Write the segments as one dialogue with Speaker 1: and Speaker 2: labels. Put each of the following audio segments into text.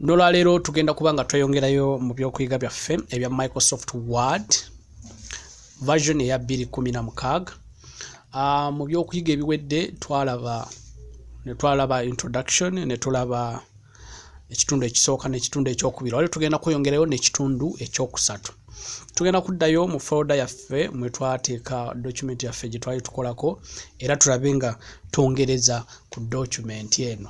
Speaker 1: nolwaleero tugenda kuba nga tweyongerayo mu byokuyiga byaffe ebya microsoft word version eya 216 ah, mu byokuyiga ebiwedde twalaba netwalaba introduction netulaba ekitundu ekisooka nekitundu ekyokubiri wali tugenda kweyongerayo nekitundu ekyokusatu tugenda kuddayo mu folda yaffe mwetwateeka document yaffe gyetwali tukolako era tulabe nga twongereza ku document eno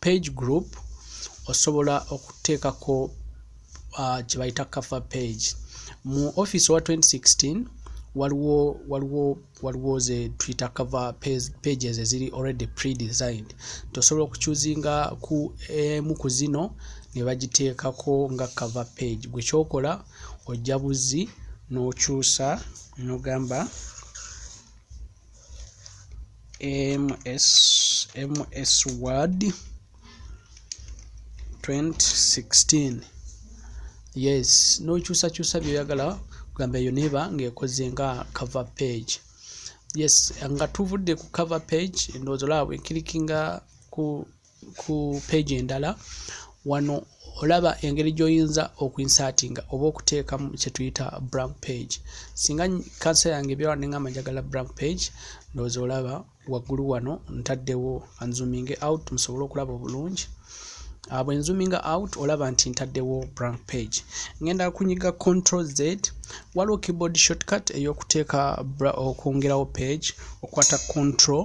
Speaker 1: page group osobola okuteekako uh, kye bayita cover page mu office wa 2016 waliwo waliwo waliwo ze twitter cover pages eziri already pre-designed tosobola okucuzinga ku emu ku zino ne bagiteekako nga cover page gwe kyokola ojja buzzi n'okyusa n'ogamba no MS, MS Word 2016 yes nokyusakyusa byoyagala kugamba eyo neba ngaekoze nga cover page yes nga tuvudde ku cover page ndowooza olaba bwenkilikinga ku ku page endala wano olaba engeri gyoyinza okuinsatinga oba okuteekamu kyetuyita blank page singa kansa yange ebyala nengamba njagala blank page ndowooza olaba waggulu wano ntaddewo anzuminge out musobole okulaba obulungi ah, bwe nzuminga out olaba nti ntaddewo blank page ngenda kunyiga control z waliwo keyboard shortcut eyokuteeka okwongerawo page okwata control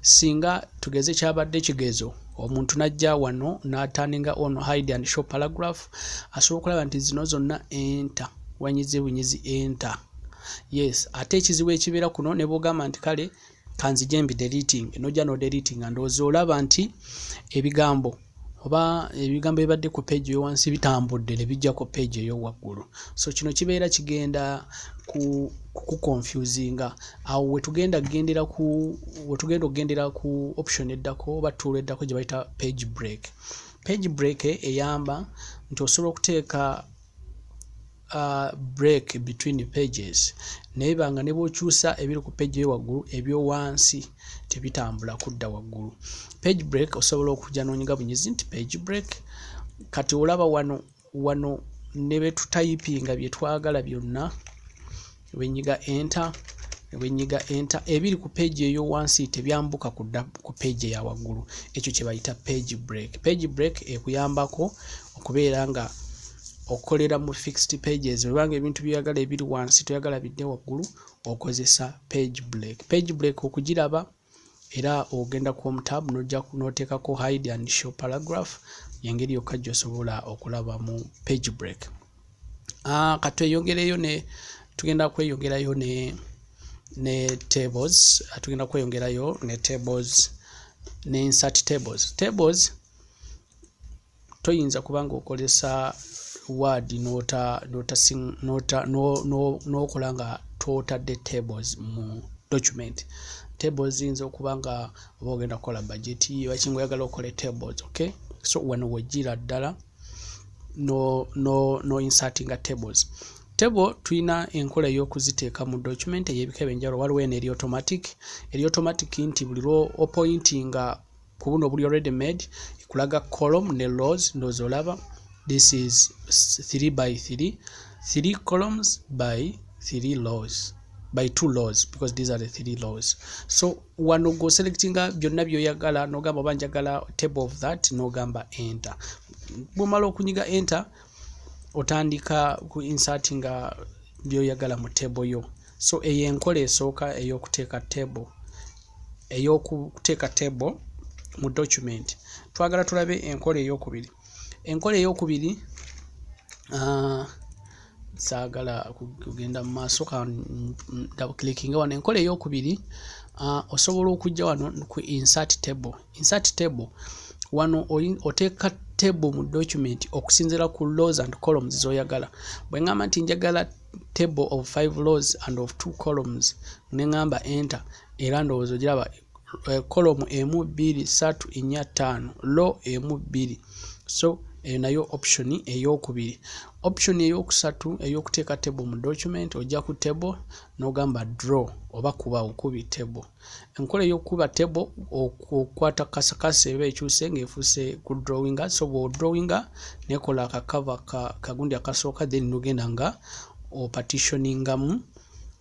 Speaker 1: singa tugeze kyabadde kigezo omuntu najja wano nataninga on hide and show paragraph asobola okulaba nti zino zonna enter wanyize bunyizi enter yes ate ekizibu ekibeera kuno ne bwogamba nti kale kanzije mbi deleting nojja no deleting ndowooza olaba nti ebigambo oba ebigambo ebibadde ku page eyowansi bitambudde ne bijja ku page eyowaggulu so kino kibeera kigenda ku kukukonfusinga awo wetugenda kugendera ku wetugenda okugendera ku option eddako oba tuula eddako gye bayita page break page break eyamba nti osobola okuteeka uh, break between pages naye banga ne bwokyusa ebiri ku page eyowaggulu ebyowansi tebitambula kudda waggulu page break osobola okuja nonyiga bunyizi nti page break kati olaba wano wano ne betutayipinga byetwagala byonna bwenyiga enter bwenyiga enter ebiri ku page eyo wansi tebyambuka kudda ku page ya waggulu ekyo kye bayita page break page break ekuyambako okubeera nga okolera mu fixed pages webanga ebintu byoyagala ebiri wansi toyagala bidde waggulu okozesa page break page break okugiraba era ogenda ku home tab nojja noteekako hide and show paragraph yengeri yokka gyosobola okulaba mu page break uh, katweyongereyo ne tugenda kweyongerayo ne ne tables ah, tugenda kweyongerayo ne tables ne insert tables tables toyinza kuba ng'okozesa waadi n'okola nga twotadde tables mu document tables ziyinza okuba nga oba ogenda kukola bajeti wakinga oyagala okole tables ok so wano wejjira ddala no insertinga tables table tulina enkola ey'okuziteeka mu document ey'ebika ebyenjawulo waliwo eno eri automatic eri automatic nti buli lwo opointinga ku buno obuli ready made ekulaga column ne rows ndoozi olaba this is 3 by 3 3 columns by 3 rows by two laws because these are the three laws so wano go selectinga byonna byoyagala nogamba oba njagala table of that nogamba enter bwomala okunyiga enter otandika ku insertinga byoyagala mu table yo So eyo enkola esooka ey'okuteeka table ey'okuteeka table mu document. Twagala tulabe enkola ey'okubiri. Enkola ey'okubiri uh, saagala kugenda mu maaso kandabukilikinga wano enkola ey'okubiri uh, osobola okujja wano ku insert table. Insert table wano oteeka table mu document okusinziira ku laws and columns z'oyagala. Bwe ngamba nti njagala table of five laws and of two columns ne ŋŋamba enter era ndowooza ogiraba eh, column emu bbiri ssatu nnya ttaano law emu bbiri so eyo nayo option ey'okubiri option ey'okusatu ey'okuteeka table mu document ojja ku table n'ogamba draw oba kuba okubi table enkola ey'okukuba table okukwata kasakasa eba ekyuse ng'efuuse ku drawinga so bw'odrawinga nekola akakava kagundi akasooka then nogenda nga opatitioningamu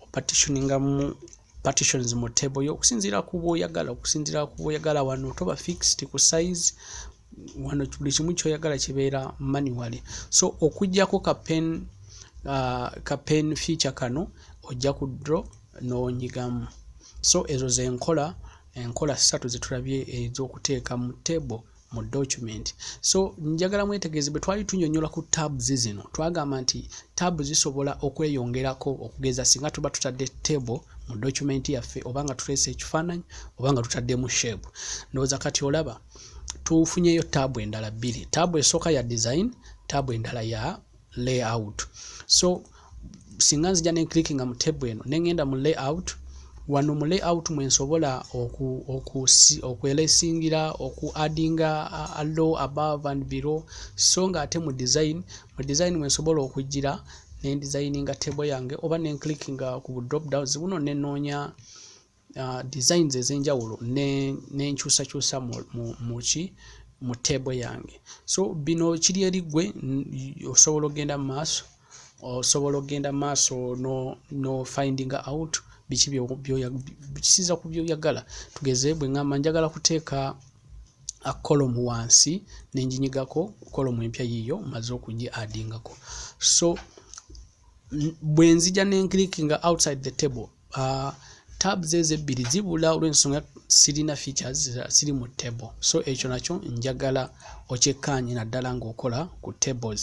Speaker 1: opatitioningamu partitions mu table yo okusinziira ku bwoyagala okusinziira ku bwoyagala wano toba fixed ku size wano buli kimu kyoyagala kibeera manually so okujjako ka pen uh, ka pen feature kano ojja ku draw n'onyigamu so ezo zenkola enkola ssatu zetulabye ez'okuteeka mu table mu document so njagala mwetegeeze bwe twali tunyonyola ku tabs zino twagamba nti tab zisobola okweyongerako okugeza singa tuba tutadde table mu document yaffe oba nga tuleese ekifaananyi oba nga tutaddemu shape ndowooza kati olaba tufunyeyo tab endala bbiri tab esooka ya design tab endala ya layout so singa nzija ne clickinga mu table eno ne ngenda mu layout wano mu layout mwe nsobola okwelesingira oku addinga low above and below so nga ate mu design mu design mwe nsobola okujjira ne designinga table yange oba ne clickinga ku drop downs buno ne noonya uh, designs ezenjawulo nenkyusakyusa ne muki mu table yange so bino kiri eri gwe osobola okugenda mu maaso osobola okugenda mu maaso no, no finding out biki byoyakisiza ku byoyagala tugeze bwe ngamba njagala kuteeka a column wansi nenjinyigako column empya yiyo maze okugi adingako so bwenzija nenclickinga outside the table uh, tabs ezo ebbiri zibula olwensonga sirina features siri mu table so ekyo nakyo njagala okyekkaanye naddala ng'okola ku tables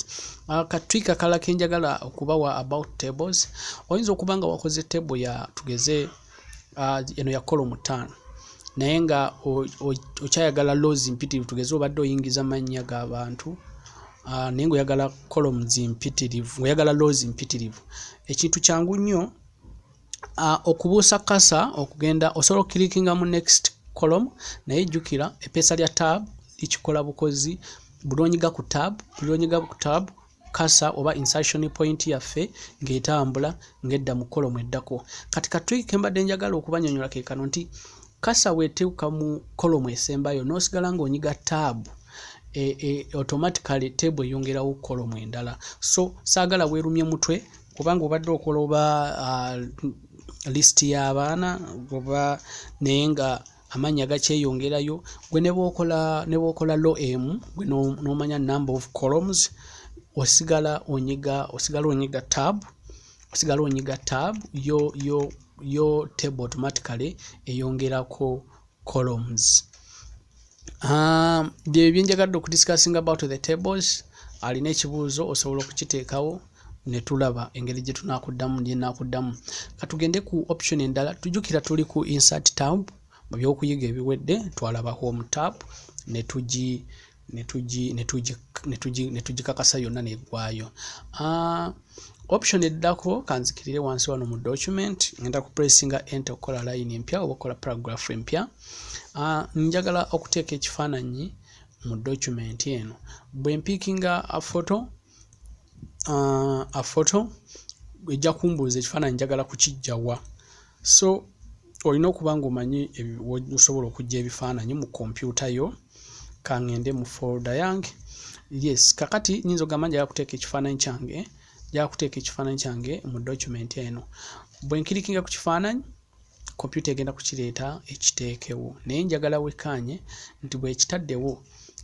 Speaker 1: uh, katwika kala kenjagala okubawa about tables oyinza okuba nga wakoze table ya tugeze uh, uh, eno ya kolo mutaano naye nga okyayagala laws mpitirivu tugeze obadde oyingiza mannya ga bantu uh, naye ngaoyagala columns mpitirivu ngaoyagala laws mpitirivu ekintu kyangu nnyo uh, okubuusa kasa okugenda osobola okukilikinga mu next column naye jjukira epeesa lya tab likikola bukozi bulonyiga ku tab bulonyiga ku tab kasa oba insertion point yaffe ng'etambula ng'edda mu kolomu eddako kati katwi kembadde njagala okubanyonyola ke kano nti kasa weteeka mu kolomu esembayo n'osigala ng'onyiga taabu e, e, automatically teebu eyongerawo kolomu endala so saagala weerumye mutwe kubanga obadde okoloba uh, list y'abaana oba naye nga amannya gakyeyongerayo gwe ne bwokola ne bwokola lo emu gwe n'omanya number of columns osigala onyiga osigala onyiga tab osigala onyiga tab yo yo yo table automatically eyongerako columns um, bye byenjagadde okudiscussinga about the tables alina ekibuuzo osobola okukiteekawo ne tulaba engeri gye tunaakuddamu gye naakuddamu ka tugende ku option endala tujukira tuli ku insert tab mu byokuyiga ebiwedde twalaba home tab ne tugi ne tugikakasa yonna neggwayo ah, option eddako kanzikirire wansi wano mu document ngenda ku pressinga ente okukola line empya oba okukola paragraph empya ah, njagala okuteeka ekifaananyi mu document eno bwe mpiikinga foto uh, a photo ejja kumbuuza ekifaananyi njagala kukijja wa so olina okuba ng'omanyi osobola okujja ebifaananyi mu kompyuta yo kangende mu folda yange yes kakati nyinza ogamba njagala kuteeka ekifaananyi kyange njagala kuteeka ekifaananyi kyange mu document eno bwe nkirikinga ku kifaananyi kompyuta egenda kukireeta ekiteekewo naye njagala wekkaanye nti bwekitaddewo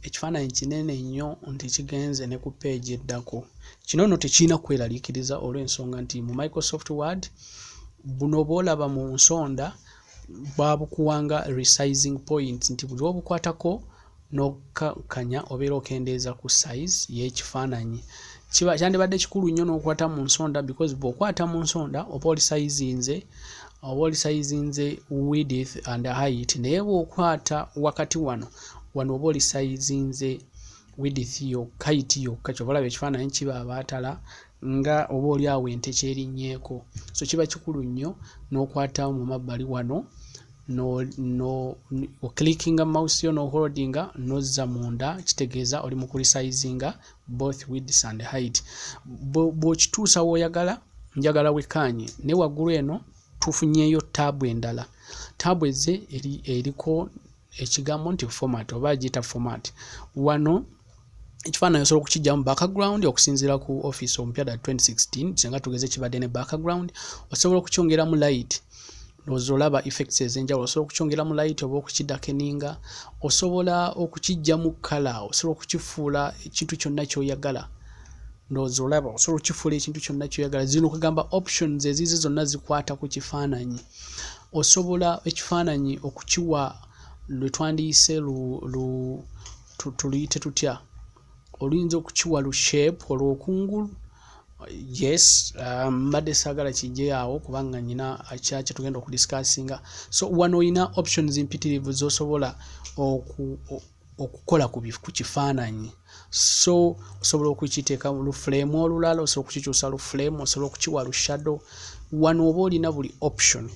Speaker 1: ekifaananyi kinene nnyo nti kigenze ne ku peegi eddako kino nno tekirina kweraliikiriza olw'ensonga nti mu microsoft word buno bwolaba mu nsonda babukuwanga resizing points nti buli obukwatako n'okukakkanya obeera okendeeza ku size y'ekifaananyi kiba kyandibadde kikulu nnyo n'okwata mu nsonda because bw'okwata mu nsonda oba oli sayizinze oba oli sayizinze width and height naye bw'okwata wakati wano wano oba oli sayizinze width yokka height yokka kyova olaba ekifaananyi kiba abaatala nga oba oli awo ente kyerinnyeeko so kiba kikulu nnyo n'okwata mu mabbali wano no no oclickinga mouse yo noholdinga nozza munda kitegeeza oli mu kurisayizinga both wids and height bwokituusa woyagala njagala wekaanye ne waggulu eno tufunyeyo taabu endala taabu eze eriko ekigambo nti format oba agiyita format wano ekifaananyi osobola okukijjamu background okusinziira ku office omupya da 2016 singa tugeze kibadde ne background osobola okukyongeramu light ndowooza olaba effects ez'enjawulo osobola okukyongeramu light oba okukidakeninga osobola okukijjamu kala osobola okukifuula ekintu kyonna kyoyagala ndowooza olaba osobola okukifuula ekintu kyonna kyoyagala zino okugamba options eziize zonna zikwata ku kifaananyi osobola ekifaananyi okukiwa lwe twandiyise lu, lu tuluyite tutya oluyinza okukiwa lu shape olwokungulu yes um, mbadde um, saagala kijje awo kubanga nyina kyakye tugenda okudiscussinga so wano olina options mpitirivu zosobola okukola ku kifaananyi so osobola okukiteeka lu flame olulala osobola okukikyusa lu flame osobola okukiwa lu shadow wano oba olina buli option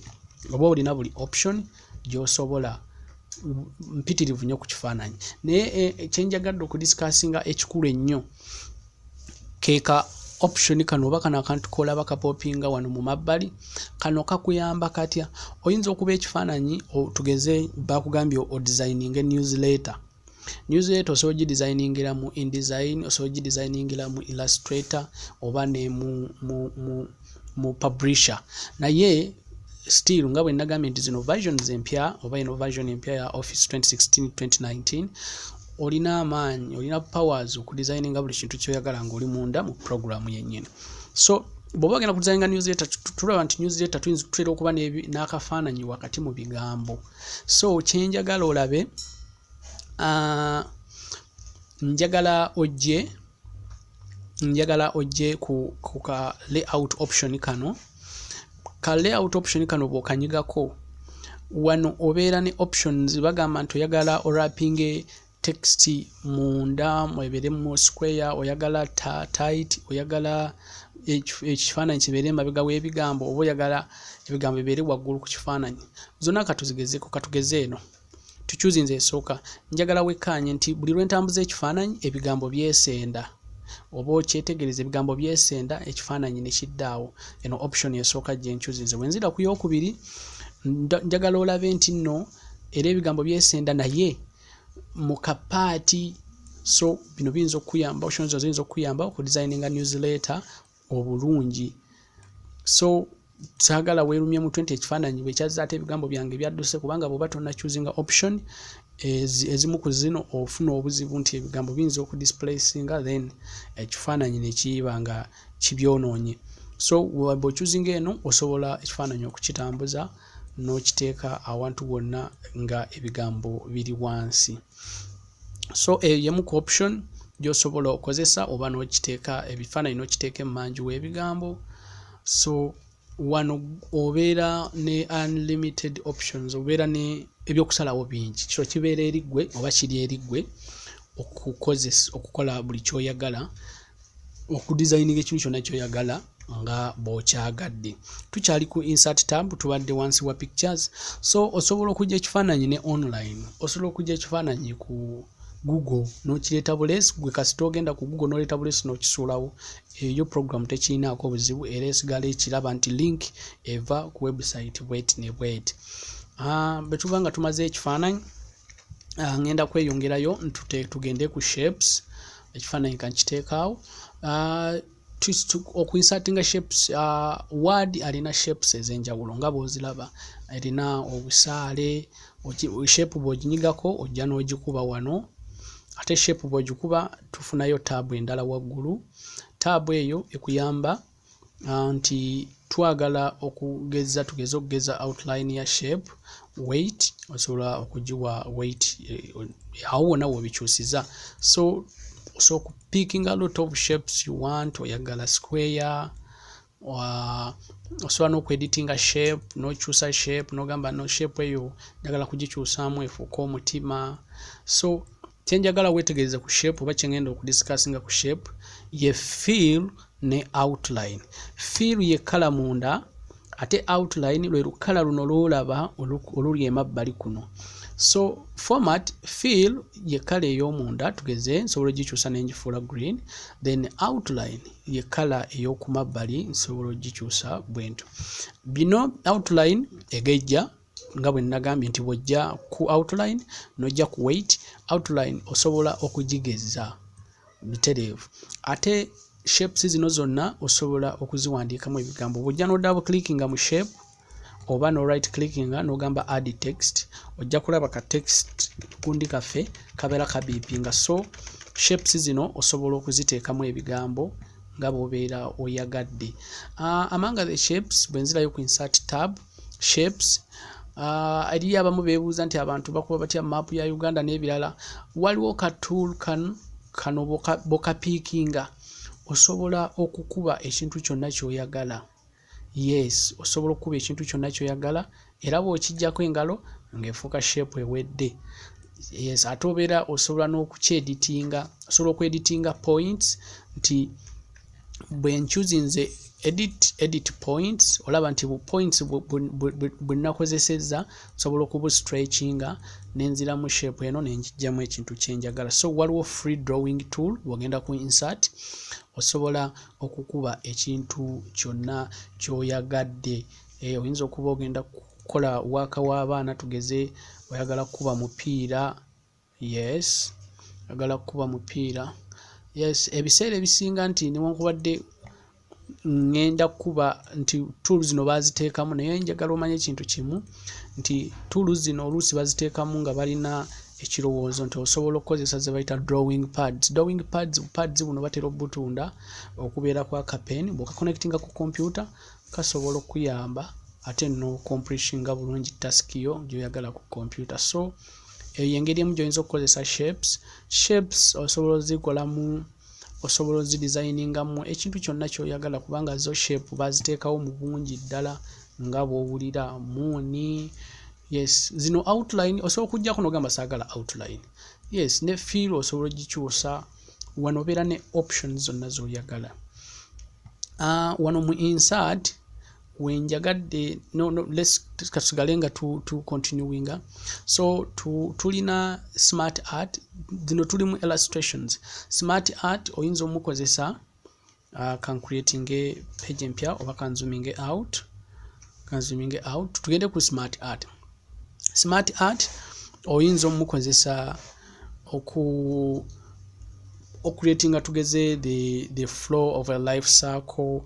Speaker 1: oba olina buli option gyosobola mpitirivu nyo ku kifaananyi naye eh, kyenjagadde okudisikasinga ekikulu ennyo keeka option kano oba kano akantu kolaba kapopinga wano mu mabbali kano kakuyamba katya oyinza okuba ekifaananyi tugeze bakugambye odesigning newsletter Newsletter osobola ogidesigningira mu InDesign, osobola ogidesigningira mu Illustrator oba ne mu, mu, mu, mu Publisher. Naye still nga bwe nagambye nti zino versions empya oba eno version empya ya Office 2016-2019 olina amaanyi, olina powers okudesigninga buli kintu kyoyagala ng'oli munda mu program yennyini. So bw'oba ogenda kudesigninga newsletter, tulaba nti newsletter tuyinza tutera okuba n'akafaananyi wakati mu bigambo. so kyenjagala olabe uh, njagala ojje njagala ojje ku, ku ka layout option kano ka layout option kano bwokanyigako wano obeera ne options bagamba nti oyagala orapinge text munda mweberemu square oyagala tight oyagala ekifaananyi kibeere emabega w'ebigambo oba oyagala ebigambo bibeere waggulu ku kifaananyi zonna katuzigezeko katugeze eno tukyuzi nze esooka njagala wekkaanye nti buli lwe ntambuza ekifaananyi ebigambo byesenda oba okyetegereza ebigambo byesenda ekifaananyi ne kiddaawo eno option esooka gye nkyuzi nze bwe nzira ku yookubiri njagala olabe nti nno era ebigambo byesenda naye mu kapaati so bino biyinza okukuyamba options zino ziyinza okukuyamba okudesigninga newsletter obulungi so saagala weerumye mutwe nti ekifaananyi bwe kyazza ate ebigambo byange byadduse kubanga bw'oba tonacuzinga option ezimu ku zino ofuna obuzibu nti ebigambo biyinza okudisplacinga then ekifaananyi ne kiyiba nga kibyonoonye so bw'ocuzinga eno osobola ekifaananyi okukitambuza n'okiteeka awantu wonna nga ebigambo biri wansi so eyo yemu ku option gy'osobola okozesa oba n'okiteeka ebifaananyi n'okiteeka emmanju w'ebigambo so wano obeera ne unlimited options obeera ne ebyokusalawo bingi kiro kibeera eriggwe oba kiri eriggwe okukozesa okukola buli kyoyagala okudizayininga ekintu kyonna kyoyagala nga bwokyagadde tukyali ku insert tab tubadde wansi wa pictures so osobola okujja ekifaananyi ne online osobola okujja ekifaananyi ku google nokireeta buleesi gwe kasita ogenda ku google noleeta buleesi nokisuulawo eyo program tekirinaako buzibu era esigala ekiraba nti link eva ku website bwet ne bwet ah, bwetuba nga tumaze ekifaananyi uh, ngenda kweyongerayo ntute tugende ku shapes ekifaananyi kankiteekaawo uh, okuinsatinga shapes uh, word alina shapes ez'enjawulo nga bwozilaba erina obusaale shape bwoginyigako ojja n'ogikuba wano ate shape bwogikuba tufunayo taabu endala waggulu taabu eyo ekuyamba uh, nti twagala okugeza tugeze okugeza outline ya shape weight osobola okugiwa weight eh, awo wona wobikyusiza so so picking a lot of shapes you want oyagala square uh, osobola nokueditinga shape nokyusa shape nogamba no shape eyo njagala kugikyusamu efuuka omutima so kyenjagala wetegereze ku shape oba kyengenda okudiscussinga ku shape ye feel ne outline feel ye kala munda ate outline lwe lukala luno lwolaba oluli emabbali kuno so format feel ye kala eyomunda tugeze nsobola ogikyusa nengifuula green then outline ye kala eyokumabbali nsobola ogikyusa bwento bino outline egejja nga bwe nnagambye nti bw'ojja ku outline n'ojja ku weight outline osobola okugigezza butereevu ate shapes zino zonna osobola okuziwandiikamu ebigambo bw'ojja n'oddabu clickinga mu shape oba no right clickinga n'ogamba add text ojja kulaba ka text kundi kaffe kabeera kabiipinga so shapes zino osobola okuziteekamu ebigambo nga bw'obeera oyagadde uh, among the shapes bwe nzirayo ku insert tab shapes uh, eriyo abamu bebuuza nti abantu bakuba batya maapu ya uganda n'ebirala waliwo ka tool kan kano bokapiikinga osobola okukuba ekintu kyonna kyoyagala yes osobola okukuba ekintu kyonna kyoyagala era bw'okijjako engalo ng'efuuka shape ewedde yes ate obeera osobola n'okukyeditinga osobola okweditinga points nti bwe nchuzinze edit edit points olaba nti bu points bwe nakozesezza nsobola okubu stretchinga nenzira mu shape eno nenjijjamu ekintu kyenjagala so waliwo free drawing tool bwogenda ku insert osobola okukuba ekintu kyonna kyoyagadde eh, oyinza okuba ogenda kukola waaka w'abaana tugeze oyagala kukuba mupiira Yes, agala kukuba mupiira. Yes, ebiseera ebisinga nti newankubadde ngenda kukuba nti tuulu zino baaziteekamu naye njagala omanye ekintu kimu nti tuulu zino oluusi baziteekamu nga balina ekirowoozo nti osobola okukozesa ze bayita drawing pads drawing pads pads buno batera obutunda okubeera kwa kapen bwokaconnectinga ku kompyuta kasobola okuyamba ate nocompletinga bulungi task yo gyoyagala ku kompyuta so eyo yengeri emu gyoyinza okukozesa shapes shapes osobola ozikolamu osobola ozidesigningamu ekintu kyonna kyoyagala kubanga zo shape baziteekawo mu bungi ddala nga bwowulira muuni yes zino outline osobola okujjako nogamba saagala outline yes ne fiil osobola ogikyusa wano obeera ne options zonna zoyagala uh, wano mu insert wenjagadde no, no, katusigale nga tu, tu continuinga so tu, tulina smart art zino tulimu illustrations smart art oyinza omukozesa uh, kan creating a page empya oba kanzuminge out kanzuminge out tugende ku smart art smart art oyinza omukozesa oku okuretinga tugeze the, the flow of a life circle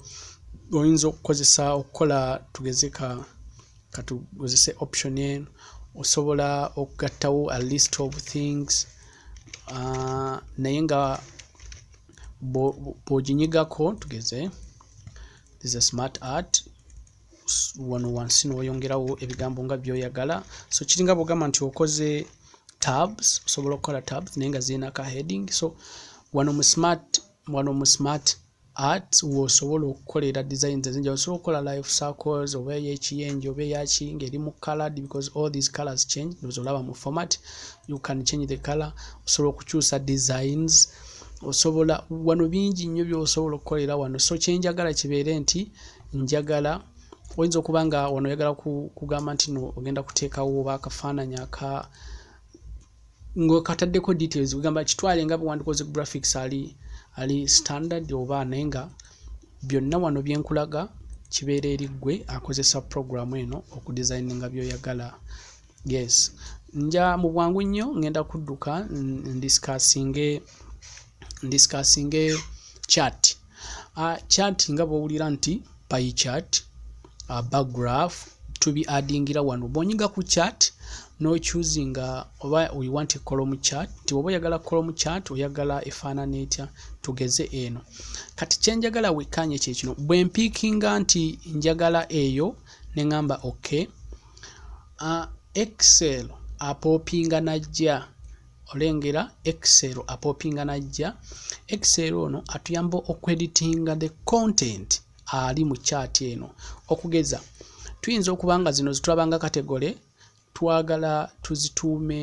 Speaker 1: oyinza okukozesa okukola tugeze ka katugozese option eno osobola okugattawo a list of things uh, naye nga bwoginyigako tugeze is a smart art wano wansi n'oyongerawo ebigambo nga byoyagala so kiringa bwogamba nti okoze tabs osobola okukola tabs naye nga zirina ka heading so wano mu smart wano mu smart art wosobola okukolera designs ezinjawulo osobola okukola life circles oba eyekiyenje oba eyaki ng'eri mu colored because all these colors change ndoza olaba mu format you can change the color osobola okukyusa designs osobola wano bingi nnyo byosobola okukolera wano so kyenjagala kibeere nti njagala oyinza okuba nga wano oyagala kugamba nti no ogenda kuteekawo oba akafaananyi aka ngokataddeko details kugamba kitwale nga bwewandikoze graphics ali ali standard oba naye nga byonna wano byenkulaga kibeera eri ggwe akozesa program eno okudesigninga byoyagala yes nja mu bwangu nnyo ngenda kudduka ndisikasinge ndisikasinge chat uh, chat nga bwowulira nti pay chat uh, backgraph tubi adingira wano bwonyiga ku chat nochuzinga oba we want column chat ti oba oyagala column chat oyagala efaanana etya tugeze eno kati kyenjagala wekkanye kyekino bwempiikinga nti njagala eyo ne ngamba okay excel apopinga najja olengera excel apopinga najja excel ono atuyamba okweditinga the content ali mu chat eno okugeza tuyinza okuba nga zino zitulaba nga kategole twagala tuzituume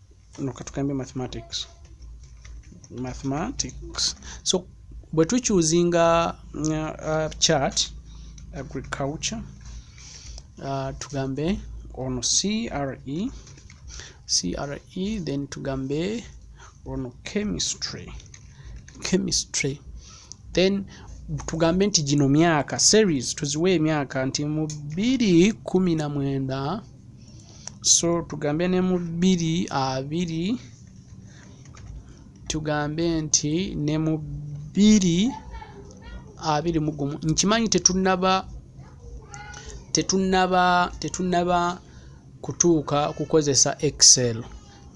Speaker 1: no katugambe mathematics mathematics so bwe tukyuzinga uh, uh, chart agriculture uh, tugambe ono cre cre then tugambe ono chemistry chemistry then tugambe nti gino myaka series tuziwe emyaka nti mu 219 so tugambe ne mu bbiri abiri tugambe nti ne mu bbiri abiri mu gumu nkimanyi tetunnaba tetunnaba tetunnaba kutuuka kukozesa excel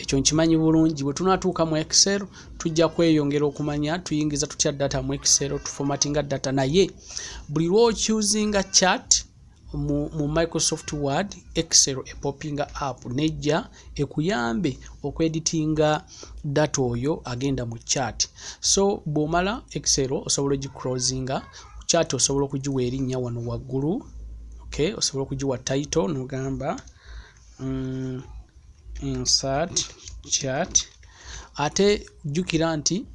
Speaker 1: ekyo nkimanyi bulungi bwe tunatuuka mu excel tujja kweyongera okumanya tuyingiza tutya data mu excel tufomatinga data naye buli lwokyuzinga chat mu, mu microsoft word excel epopinga app nejja ekuyambe okweditinga data oyo agenda mu chat so bwomala excel osobola ogicrosinga chat osobola okugiwa erinnya wano waggulu okay osobola okugiwa title nogamba mm, insert chat ate jjukira nti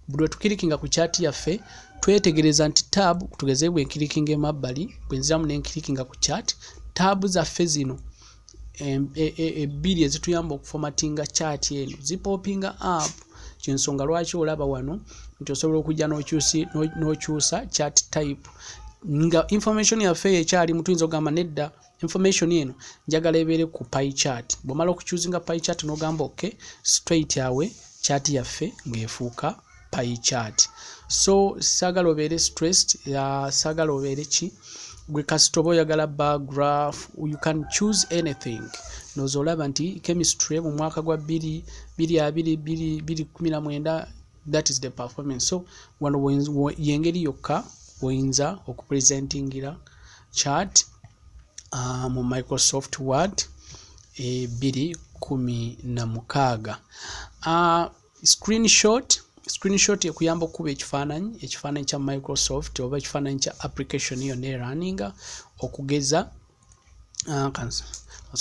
Speaker 1: buli wetukirikinga ku kyati yaffe twetegereza nti tab tugeze bwe nkirikinga emabbali bwe nziramu ne nkirikinga ku kyati taabu zaffe zino e, e, ebbiri ezituyamba okufomatinga kyati eno zipopinga app kyensonga lwaki olaba wano nti osobola okujja n'okyusa kyati type nga information yaffe eyo ekyalimu tuyinza okugamba nedda information eno njagala ebeere ku pie chart bwomala okuchuzinga pie chart nogamba ok straight awe chart yaffe ng'efuuka pie chart so sagala obeere stressed uh, sagala obeere ki gwe kasita oba oyagala bar graph you can choose anything noza olaba nti chemistry mu mwaka gwa 2219 that is the performance so wano yengeri yokka woyinza okupresentingira chat uh, mu microsoft word ebiri eh, kumi na mukaaga uh, screenshot screenshot ekuyamba okukuba ekifaananyi ekifaananyi kya microsoft oba ekifaananyi kya application yonna eraninga okugeza uh,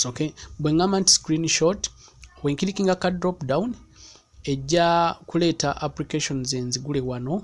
Speaker 1: okay. bwe ngamba nti screenshot wenkirikinga ka drop down ejja kuleeta applications enzigule wano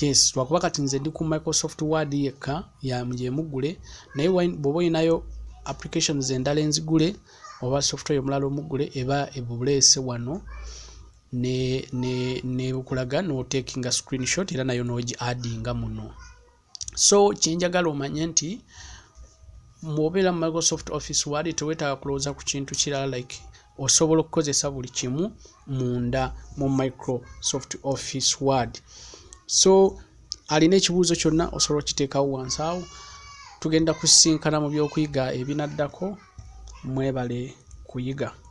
Speaker 1: yes lwakuba kati nze ndi ku microsoft word yekka yamujemuggule naye bwoba olinayo applications endala enzigule oba software omulala omuggule eba ebuleese wano nebukulaga ne, ne notekinga screenshot era nayo nogi addinga muno so kyenjagala omanye nti mwobeera mu microsoft office wali tewetaaga kulowooza ku kintu kirala like osobola okukozesa buli kimu munda mu microsoft office word so alina ekibuuzo kyonna osobola okiteekawo wansi awo tugenda kusisinkana mu byokuyiga ebinaddako mwebale kuyiga